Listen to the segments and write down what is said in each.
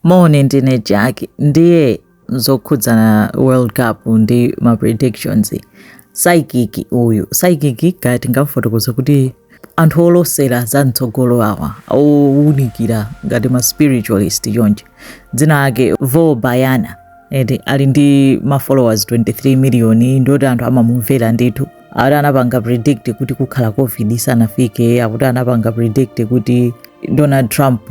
Moni ndine Jack ndiye zokhudzana World Cup ndi ma predictions psychic uyu psychic kaya tingamfotokoza kuti anthu olosera za mtsogolo awa owunikira ngati ma spiritualist chonchi dzina lake Vo Bahiana eti ali ndi ma followers 23 million ndiye kuti anthu amamumvera ndithu akuti anapanga predict kuti kukhala covid isanafike akuti anapanga predict kuti Donald Trump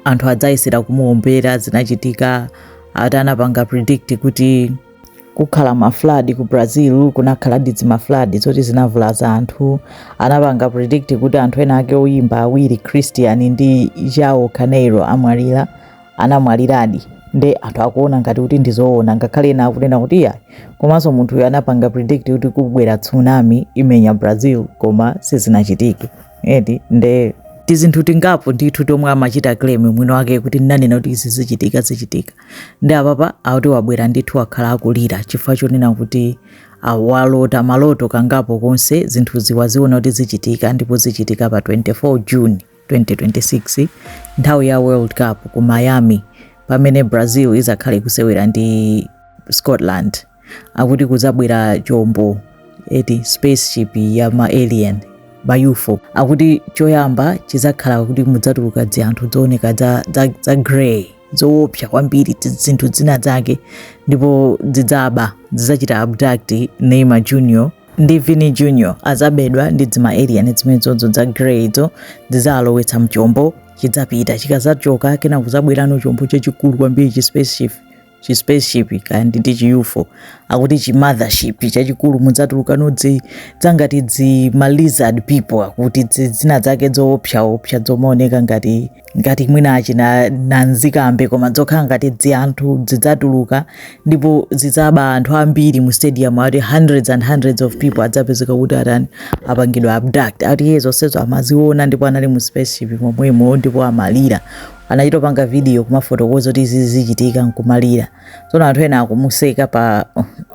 anthu adzayesera kumuombera zinachitika ati anapanga predict kuti kukhala ma flood ku Brazil kunakhala dzi ma flood zoti zinavulaza anthu anapanga predict kuti anthu ena ake oyimba awiri christian ndi João Carreiro amwalira anamwaliradi nde anthu akuona ngati kuti ndizoona ngakhale ena akunena kuti iya komanso munthuyo anapanga predict kuti kubwera tsunami imenya brazil koma sizinachitike eti nde tizinthu tingapo ndithu tomwe amachita claim mwini wake kuti ndinanena kuti izi zichitika zichitika nde apapa akuti wabwera ndithu wakhala akulira chifukwa chonena kuti walota maloto kangapo konse zinthu izi waziona kuti zichitika ndipo zichitika pa 24 june 2026 nthawi ya world cup ku miami pamene brazil izakhale ikusewera ndi scotland akuti kudzabwera chombo eti spaceship ya ma alien ma UFO akuti choyamba chidzakhala kuti mudzatuluka dzianthu dzooneka dza, dza, dza grey zoopsa kwambiri ti- zinthu dzina dzake ndipo dzidzaba dzidzachita abduct Neymar Junior ndi Vini Junior adzabedwa ndi dzima alien dzimenezodzo dza grey dzo dzidzawalowetsa mchombo chidzapita chikazachoka kenako kudzabwerano chombo chachikulu kwambiri chi spaceship chi spaceship kaya ndi ndi chi UFO akuti chi mothership chachikulu mudzatulukano dzi dzangati dzi ma lizard people akuti dzi- dzina dzake dzoopsaopsa dzomaoneka ngati ngati mwina achina nanzikambe koma dzokhala ngati dzi anthu zidzatuluka ndipo zidzaba anthu ambiri mu stadium ati hundreds and hundreds of people adzapezeka kuti atani apangidwa abduct ati iye zonsezo amaziona ndipo anali mu spaceship momwemo ndipo amalira anachita kupanga video kumafotokoza kuti izi zichitika nkumalira tsono anthu ena akumuseka pa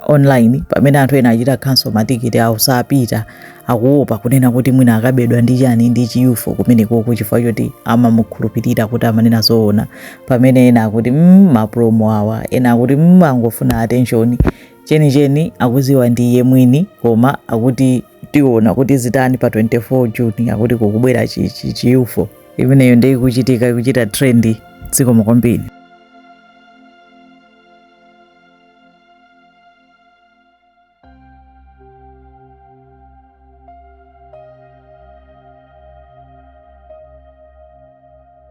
online pamene anthu ena achita cancel matikiti awo sapita akuopa kunena kuti mwina akabedwa ndi chani ndi chi UFO kumenekoko chifukwa choti amamukhulupirira kuti amanena zoona pamene ena akuti mm, mapromo awa ena akuti mm, angofuna attention chenicheni akuziwa ndi iye mwini koma akuti tiona kuti zitani pa 24 June akuti kukubwera chi UFO imeneyo nde ikuchitika ikuchita trend dziko mukombini